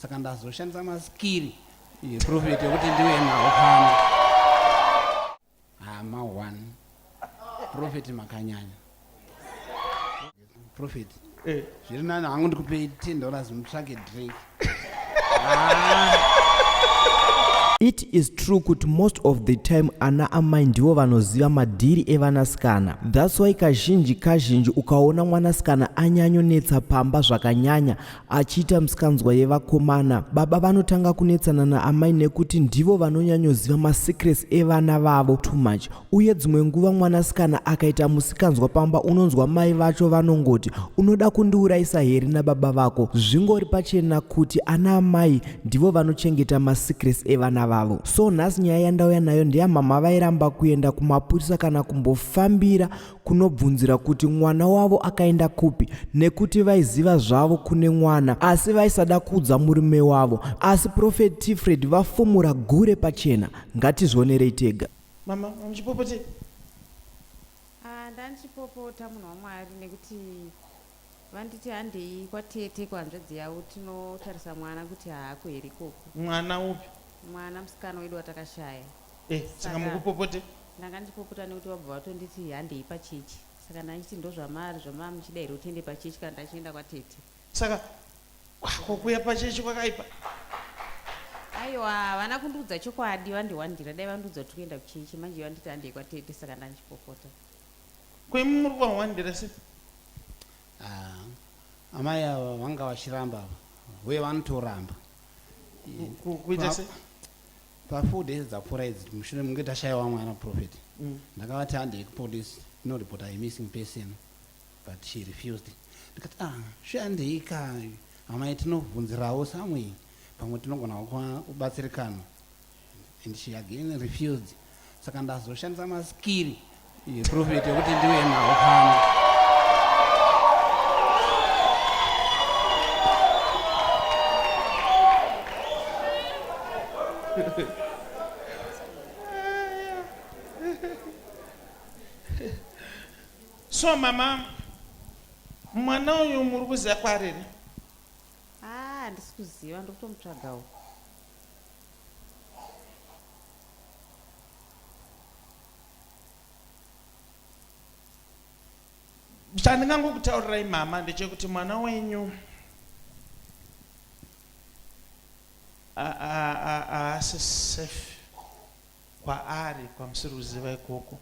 saka ndazoshandisa maskiri yeprofeti yekuti ndive nawo pano hama one profeti makanyanya profeti eh. zviri nani hangu ndikupei ten dollars mutsvake drink it is true kuti most of the time ana amai ndivo vanoziva madhiri evanasikana thats why kazhinji kazhinji ukaona mwanasikana anyanyonetsa pamba zvakanyanya achiita misikanzwa yevakomana baba vanotanga kunetsana naamai nekuti ndivo vanonyanyoziva masecrets evana vavo too much uye dzimwe nguva mwanasikana akaita musikanzwa pamba unonzwa mai vacho vanongoti unoda kundiurayisa here nababa vako zvingori pachena kuti ana amai ndivo vanochengeta masecrets evana vavo so nhasi nyaya yandauya nayo ndeyamama vairamba kuenda kumapurisa kana kumbofambira kunobvunzira kuti mwana wavo akaenda kupi nekuti vaiziva zvavo kune mwana asi vaisada kuudza murume wavo asi profet tifred vafumura gure pachena ngatizvionerei tega mama muchipopotei ah, ndandichipopota munhu wamwari nekuti vanditi handei kwatete kuhanzvadzi yavo tinotarisa mwana kuti haako here ikoko mwana upi mwana musikana wedu watakashaya Eh, saka Saka- mukupopote ndanga ndipopota nekuti vabva vatonditi handei pachechi saka ndanditi ndozvamaari zvamava muchida here kuti ende pachechi kana ndachienda kwatete saka ah, ko kuya pachechi kwakaipa aiwa havana kundiudza chokwadi vandiwandira dai vandiudza kuti kuenda kuchechi manje vanditi handei kwatete saka ndandichipopota kwemu muri kwahwandira se Ah, amai ava vanga vachiramba ava uye vanotoramba Ku- ku- kuita se pafour days dzapfuura idzi mushure munge tashaiwa mwana prophet mm. ndakavati handei kupolice tinoripota imissing person but she refused ndikati ah shandei kai amai tinobvunzirawo samwei pamwe tinogona kubatsirikana and she again refused saka ndazoshandisa maskiri Prophet yekuti ndiwe nawo pano. So mama mwana uyu muri kuziva kwariri? Ah, handisi kuziva ndokutomutsvagawo. chandingangokutaurirai mama ndechekuti mwana wenyu haasi safe kwaari kwamusiri kuziva ikoko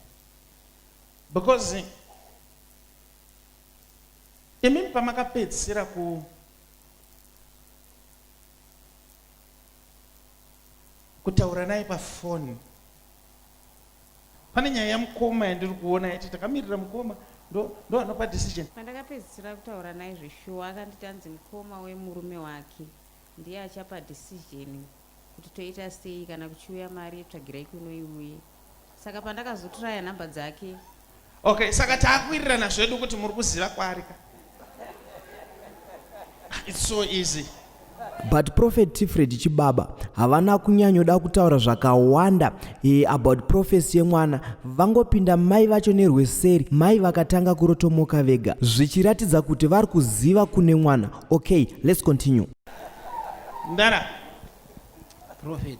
because imimi pamakapedzisira ku kutaura naye pafoni pane nyaya yamukoma yandiri kuona yati takamirira mukoma ndoanopa decision pandakapedzisira kutaura naye zveshuwa akanditi anzi mukoma wemurume wake ndiye achapa decision kuti toita sei kana kuchiuya mari yetsvagirai kunoiuye saka pandakazotiraya nhamba dzake Okay, saka taakuwirirana zvedu kuti muri kuziva kwaari ka. It's so easy. But Prophet Tifred Chibaba havana kunyanyoda kutaura zvakawanda e, about prophecy yemwana vangopinda mai vacho nerweseri mai vakatanga kurotomoka vega zvichiratidza kuti vari kuziva kune mwana okay let's continue Ndara. Prophet.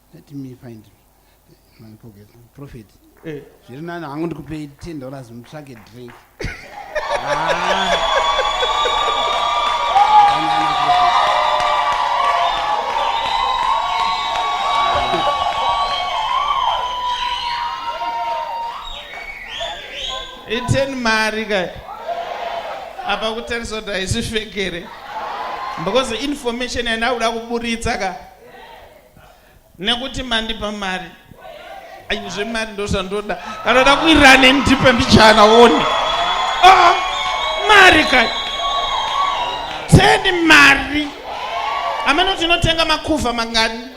Let me find my pocket. Prophet. Eh. Zviri nani hangu ndikupei 10 dollars mutsvake drink. ah. Iteni mari kai. Apa kutarisa kuti haisi fekere. Because information yandauda kuburitsa ka. nekuti mandipa mari ayi zvemari ndozvandoda kana da kuirira neni ndipe mbichana one ah, mari kai sendi mari amene kuti inotenga makuva mangani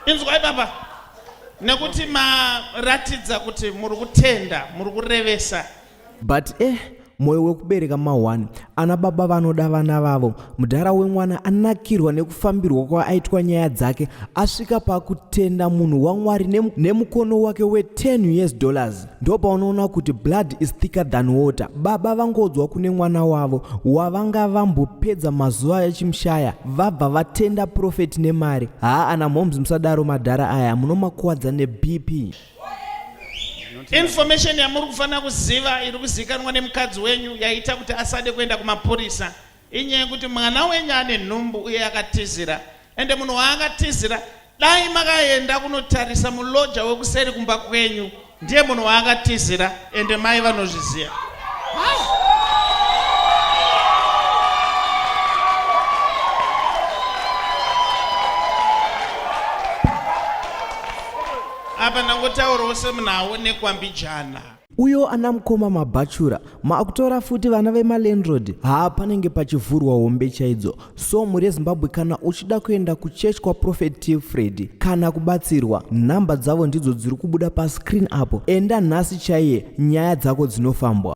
inzwai baba nekuti maratidza kuti muri kutenda muri kurevesa but eh moyo wekubereka mahwani ana baba vanoda vana vavo mudhara wemwana anakirwa nekufambirwa kwaaitwa nyaya dzake asvika pakutenda munhu wamwari nemukono wake we10 years dollars ndopa unoona kuti blood is thicker than water baba vangodzwa kune mwana wavo wavanga vambopedza mazuva echimushaya vabva vatenda profeti nemari haa ana moms musadaro madhara aya munomakuwadza nebp Information yamuri kufanira kuziva iri kuzikanwa nemukadzi wenyu yaita kuti asade kuenda kumapurisa inyaya yekuti mwana wenyu ane nhumbu uye akatizira ende munhu waakatizira dai makaenda kunotarisa muloja wekuseri kumba kwenyu ndiye munhu waakatizira ende mai vanozviziva apa ndangotaurawo semunhu aonekwa mbijana uyo ana mukoma mabhachura maakutora futi vana vemalandrod haa panenge pachivhurwa hombe chaidzo So mhuri yezimbabwe kana uchida kuenda kuchurch kwaprophet tfred kana kubatsirwa nhamba dzavo ndidzo dziri kubuda pascreen apo enda nhasi chaiye nyaya dzako dzinofambwa